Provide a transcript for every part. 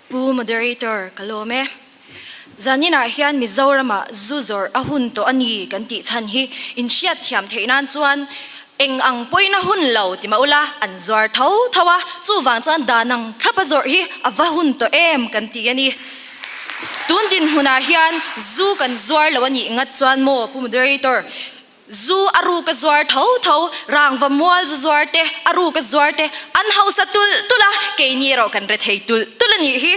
Pu Moderator, ka lawm e. Zaninah hian Mizorama zu zawrh a hun tawh a ni kan tih chhan hi in hriat thiam theih nan chuan eng ang pawhin a hun lo ti mah ula an zuar tho tho a, chuvang chuan dan ang thlap a zawrh hi a va hun tawh em kan ti a ni. Tun dinhmunah hian zu kan zuar lo a nih ngat chuan maw Pu Moderator? Zu a ruk a zuar tho tho, rangva mual zu zuar te, a ruk a zuar te an hausa tulh tulh a, keini erawh kan re thei tulh tulh a nih hi.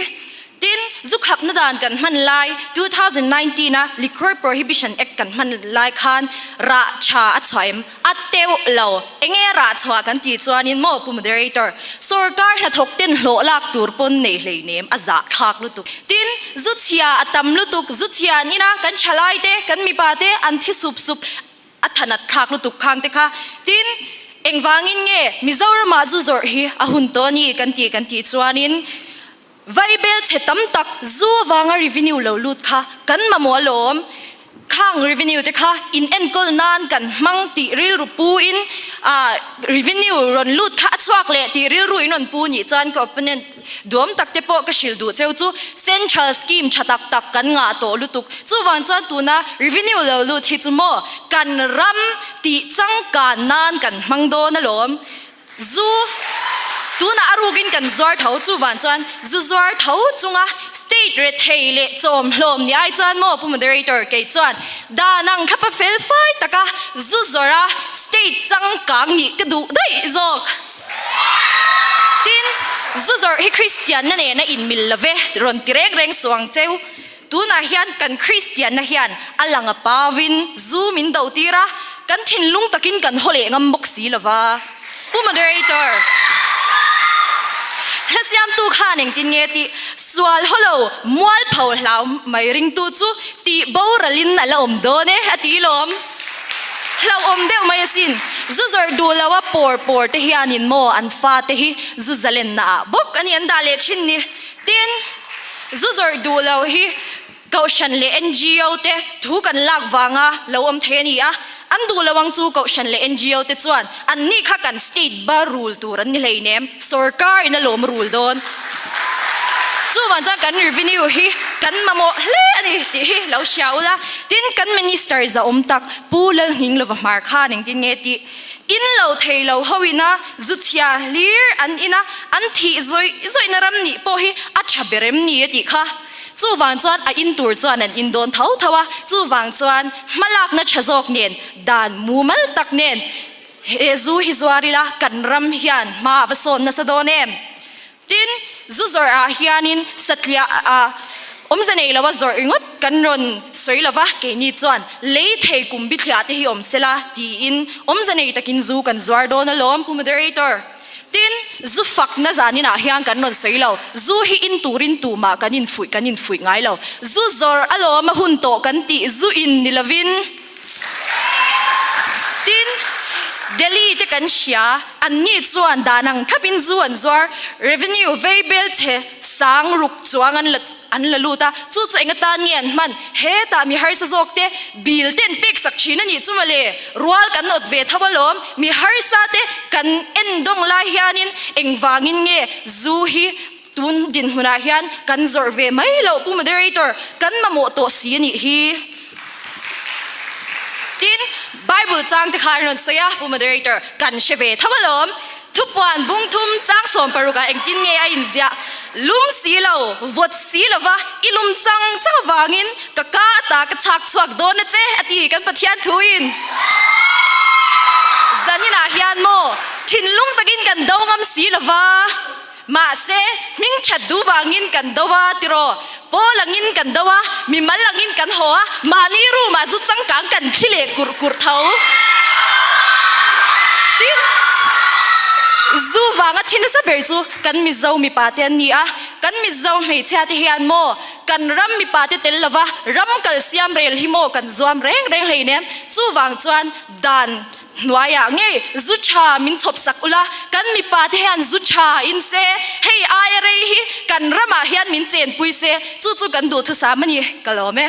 Tin, zu khapna dan kan hman lai two thousand nineteen a Liquor Prohibition Act kan hman lai khan rah tha a chhuah em? A teuh lo. Eng nge rah chhuah kan tih chuanin maw pu moderator sawrkar hnathawk ten hlawh lak tur pawn nei hleinem a zah thlak lutuk. Tin, zu chhia a tam lutuk, zu chhia an ina kan thalai te, kan mipa te an thi sup sup a thanat thlak lutuk khang te kha. Tin, engvangin nge Mizoram ah zu zawrh hi a hun tawh a ni kan tih kan tih chuanin, Bible chhe tam tak zu avanga revenue lo lut kha kan mamawh alawm. Khang revenue te kha in enkawl nan kan hmang tih rilru pu in ah revenue rawn lut kha a chhuak leh tih rilru in rawn pu nih chuan ka opponent duam tak te pawh ka hrilh duh cheu chu central scheme tha tak tak kan ngah tawh lutuk. Chuvang chuan tuna revenue lo lut hi chu maw kan ram tih changkan nan kan hmang dawn alawm. Zu, tunah a rukin kan zuar tho chu vang chuan zu zuar tho chunga state rethei leh chawm hlawm ni ai chuan maw pu moderator kei chuan dan ang thlapa fel fai taka zu zawrha state changkang nih ka duh daih zawk tin zu zawrh hi Christian na nen a inmil love rawn ti reng reng suh ang cheu. Tunah hian kan Kristianna hian a lang a pavin zu min do tir a, kan thinlung takin kan haw leh ngam bawk si lo va. Pu Moderator, Hlasiamtu khan engtin nge tih sual haw lo mual pho hlau mai ringtu chu tih boralin a la awm dawn e, a ti lawm. Hlauhawm deuh mai asin. Zu zawrh duh loha pawr pawrte hianin maw an fate hi zu zalennaah bawk a nih an dah leh thin ni. Tin, zu zawrh duh lo hi Kohhran leh NGO te thu kan lak vanga lo awm thei a ni a, an duh lo ang chu Kohhran leh NGO te chuan annih kha kan state ba rul tur an ni hleinem, sorkarin a lawm rul dawn. Chuvang chuan kan revenue hi kan mamawh hle a ni tih hi lo hria ula, tin kan minister zahawm tak Pu Lalhninglo va hmar khan engtin nge tih? In lo thei lo ho ina zu chhia hlir an ina an thih zawih zawihna ram nih pawh hi a tha ber em ni e tih kha. Chuvang chuan a in tur chuan an in dawn tho tho a, chuvang chuan hma lakna tha zawk nen dan mumal tak nen he zu hi zuar ila kan ram hian hma a va sawn nasa dawn em? Tin, zu zawrh ah hianin satliah a awmze nei lo a zawrh ringawt kan rawn sawi lo va, keini chuan lei thei kum bithliah te hi awm sela tiin awmze nei takin zu kan zuar dawn alawm. Pu Moderator, Tin, zu fakna zanin ah hian kan rawn sawi lo, zu hi in turin tumah kan infuih kan infuih ngai lo, zu zawrh alawm a hun tawh kan tih zu in ni lovin, Tin, Delhi te kan hria, an ni chuan dan ang thap in zu an zuar, revenue vei bel che sang ruk chuang an la an la lut a, chu chu enga tan nge an hman? Hetah mi harsa zawk te bill ten peksak thin a nih chu mawle, rual kan nawt ve tho alawm, mi harsa te kan en dawng lai hian in engvangin nge zu hi Tun dinhmunah hian kan zawrh ve mai lo Pu Moderator, kan mamawh tawh si a nih hi. Tin, Bible changte kha an rawn sawi a, Pu Moderator, kan hre ve tho alawm. Thupuan bung thum chang sawm paruk ah engtin nge a inziah? Lum si lo, vawt si lova i lum chang chang avangin ka ka a ta ka chhak chhuak dawn a che a ti kan Pathian thuin. Zaninah hian maw thinlung takin kan do ngam si lova. Mahse, hming that dûp angin kan do a, tiraw? Pawl angin kan do a, mi mal angin kan haw a, mahni roomah chu changkang kan thi leh kurh kurh tho. Tin, zu vanga thi nasa ber chu kan Mizo mipate an ni a, kan Mizo hmeichhiate hian maw kan ram mipate tel lova ram kal siam rel hi maw kan zuam reng reng hleinem, chuvang chuan dan, Hnuaiah ngei zu tha min chhawp sak ula, kan mipa te hian zu tha in se, hei aia rei hi kan ramah hian min chenpui se, chu chu kan duhthusam a ni ka lawm e.